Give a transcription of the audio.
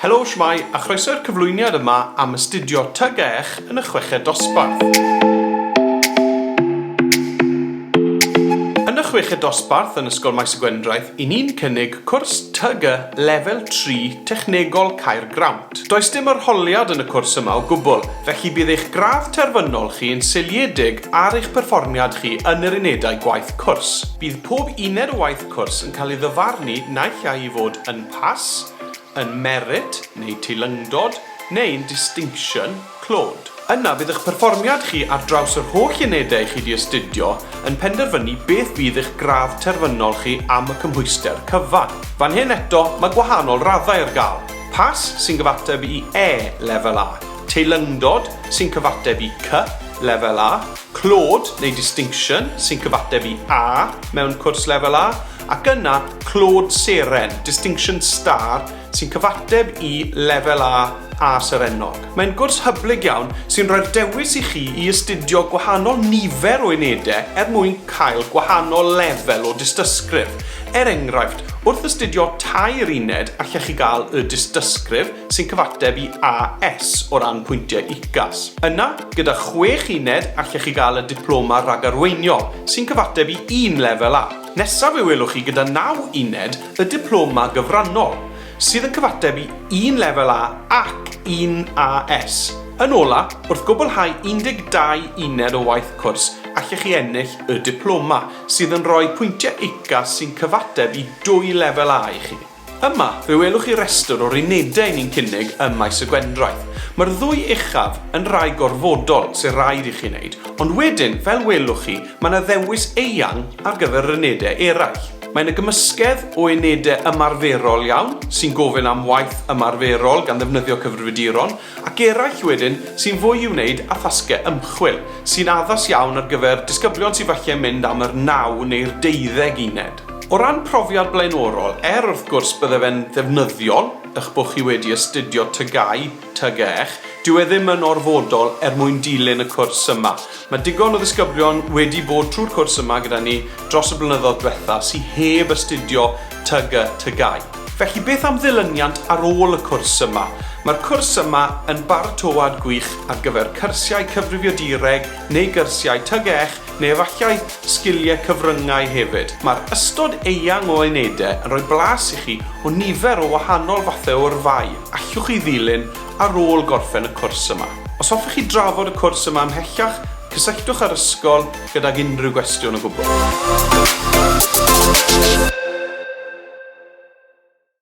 Helo, shwmae, a chroeso i'r cyflwyniad yma am astudio Tug Eich yn y Chweched Dosbarth. Yn y Chweched Dosbarth yn Ysgol Maes y Gwendraeth, i ni'n cynnig cwrs Tug Y Lefel Tri Technegol Caergrawnt. Does dim arholiad yn y cwrs yma o gwbl, felly bydd eich gradd terfynol chi yn seiliedig ar eich perfformiad chi yn yr unedau gwaith cwrs. Bydd pob uned o waith cwrs yn cael ei ddyfarnu naill ai i fod yn Pass, yn merit neu teilyngdod neu'n distinction, clod. Yna bydd eich perfformiad chi ar draws yr holl unedau chi 'di astudio yn penderfynu beth fydd eich gradd terfynol chi am y cymhwyster cyfan. Fan hyn eto, mae gwahanol raddau ar gael, Pass sy'n gyfateb i E, Lefel A, Teilyngdod sy'n cyfateb i C, Lefel A, Clod neu Distinction sy'n cyfateb i A mewn cwrs Lefel A, Ac yna, clod seren, Distinction Star, sy'n cyfateb i Lefel A a Serennog. Mae'n gwrs hyblyg iawn sy'n rhoi'r dewis i chi i astudio gwahanol nifer o unedau er mwyn cael gwahanol lefel o dystysgrif. Er enghraifft, wrth astudio tair uned allech chi gael Y Dystysgrif, sy'n cyfateb i AS o ran pwyntiau UCAS. Yna, gyda chwech uned allech chi gael y Diploma Rhagarweiniol, sy'n cyfateb i un Lefel A. Nesaf fe welwch chi gyda naw uned y Diploma Gyfrannol, sydd yn cyfateb i un Lefel A ac un AS. Yn ola, wrth gwblhau 12 uned o waith cwrs, allech chi ennill y Diploma, sydd yn rhoi pwyntiau UCAS sy'n cyfateb i dwy Lefel A i chi. Yma, fe welwch chi restr o'r unedau ni'n cynnig ym Maes y Gwendraeth. Mae'r ddwy uchaf yn rai gorfodol sy'n rhaid i chi wneud, ond wedyn, fel welwch chi, mae yna ddewis eang ar gyfer yr unedau eraill. Mae yna gymysgedd o unedau ymarferol iawn, sy'n gofyn am waith ymarferol gan ddefnyddio cyfrifiaduron, ac eraill wedyn sy'n fwy i'w wneud â thasgau ymchwil, sy'n addas iawn ar gyfer disgyblion sydd falle mynd am yr naw neu'r deuddeg uned. O ran profiad blaenorol, er wrth gwrs bydde fe'n ddefnyddiol eich bod chi wedi astudio TGAU, TGEH, dyw e ddim yn orfodol er mwyn dilyn y cwrs yma, Mae digon o ddisgyblion wedi bod trwy'r cwrs yma gyda ni dros y blynyddoedd dwetha sy heb astudio TUG a TGAU. Felly beth am ddilyniant ar ôl y cwrs yma? Mae'r cwrs yma yn baratoad gwych ar gyfer cyrsiau Cyfrifio Direg neu gyrsiau TUG ech neu efallai sgilie cyfryngau hefyd. Mae'r ystod eang o unedau yn rhoi blas i chi o nifer o wahanol fathau o yrfau allwch ei ddilyn ar ôl gorffen y cwrs yma. Os hoffech chi drafod y cwrs yma ymhellach, cysylltwch â'r ysgol gydag unrhyw gwestiwn o gwbl.